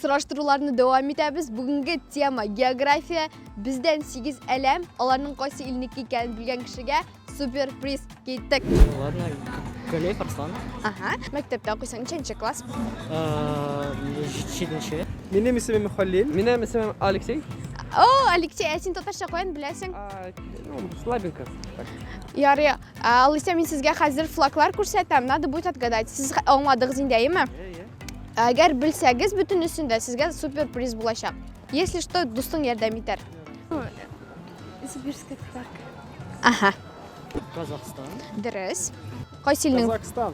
сораштыруларны дәвам итәбез. Бүгенге тема география. Бездән 8 әләм, аларның кайсы илнеке икәнен белгән кешегә супер приз киттек. Ладно, Галеев Арслан. Ага. Мәктәптә укыйсың, ничәнче класс? Э, Җиденче. Минем исемем Халил. Минем исемем Алексей. О, Алексей, ә син татарча каян беләсең? Ну, слабенько. Ярый, Ә, Алисә, мин сезгә хәзер флаглар күрсәтәм, надо будет отгадать. Сез аңладыгыз инде, әйеме? Әгәр белсәгез бөтенесен дә, сезгә супер приз булачак. Если что, дустың ярдәм итәр. Сибирская татарка. Аха. Казахстан. Дөрес. Кайсы илнең? Казахстан.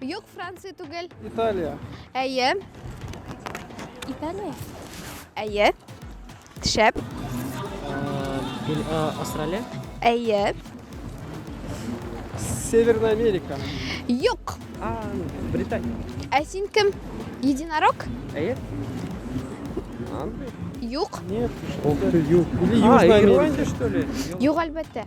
Юк, Франция түгел. Италия. Әйе. Италия. Әйе. Шәп. Австралия. Әйе. Северная Америка. Юк. Британия. Ә син кем? Единорог? Әйе. Юк. Нет. Юг. Или Южная Америка. что ли? Юк, әлбәттә.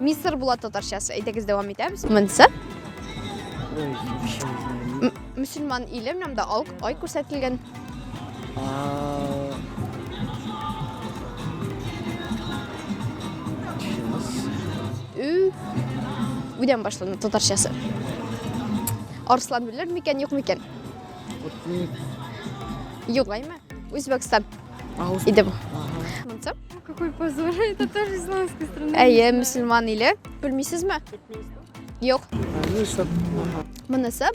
Мистер Булат татарчасы. Әйдәгез дәвам итәбез. Монсы мөселман иле менәм дә ай күрсәтелгән. Үдән башлана татарчасы. Арслан белер микән, юк микән? Юк, әйме. Үзбәкстан. Иде бу. Монсы? Какой позор, это тоже исламская страна. Әйе, мусульман иле. Белмисезме? Юк. Монысы?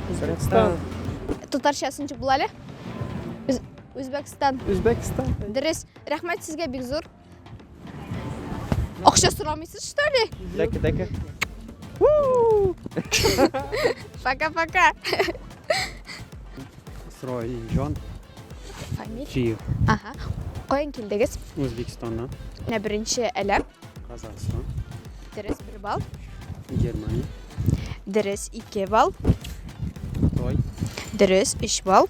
Казахстан. Татарчасын чык була әле? Үзбәкстан. Үзбәкстан. Дөрес. Рәхмәт сезгә бик зур. Акча сорамыйсыз, что ли? Дәке, дәке. Пока-пока. Срой Джон. Фамилия? Чиев. Ага. Каян килдегез? Үзбекстаннан. Менә беренче әләм. Казахстан. Дөрес бер балл. Германия. Дөрес ике балл. Той. Дөрес өч балл.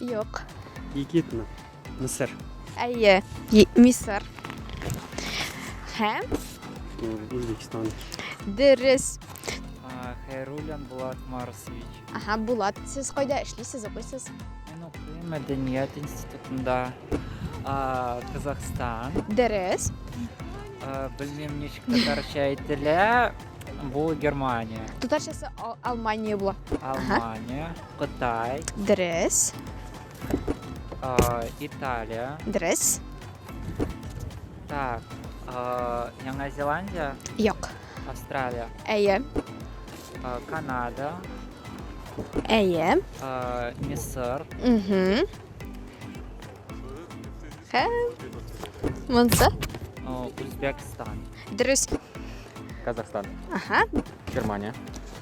Юк. Египетмы? Мисыр. Әйе, Мисыр. Һәм? Үзбекстан. Дөрес. Хәйруллин Булат Марсович. Ага, Булат, сез кайда эшлисез, укыйсыз? Мин укыйм мәдәният институтында. Казахстан. Дөрес. Белмим ничек татарча әйтелә. Бу Германия. Татарчасы Алмания була. Алмания. Кытай. Дөрес. А, Италия. Дөрес. Так, а, Яңа Зеландия. Юк. Австралия. Әйе. А, Канада. Әйе. А, Мисыр. Угу. Хә. Монса. А, Узбекстан. Дөрес. Казахстан. Ага. Германия.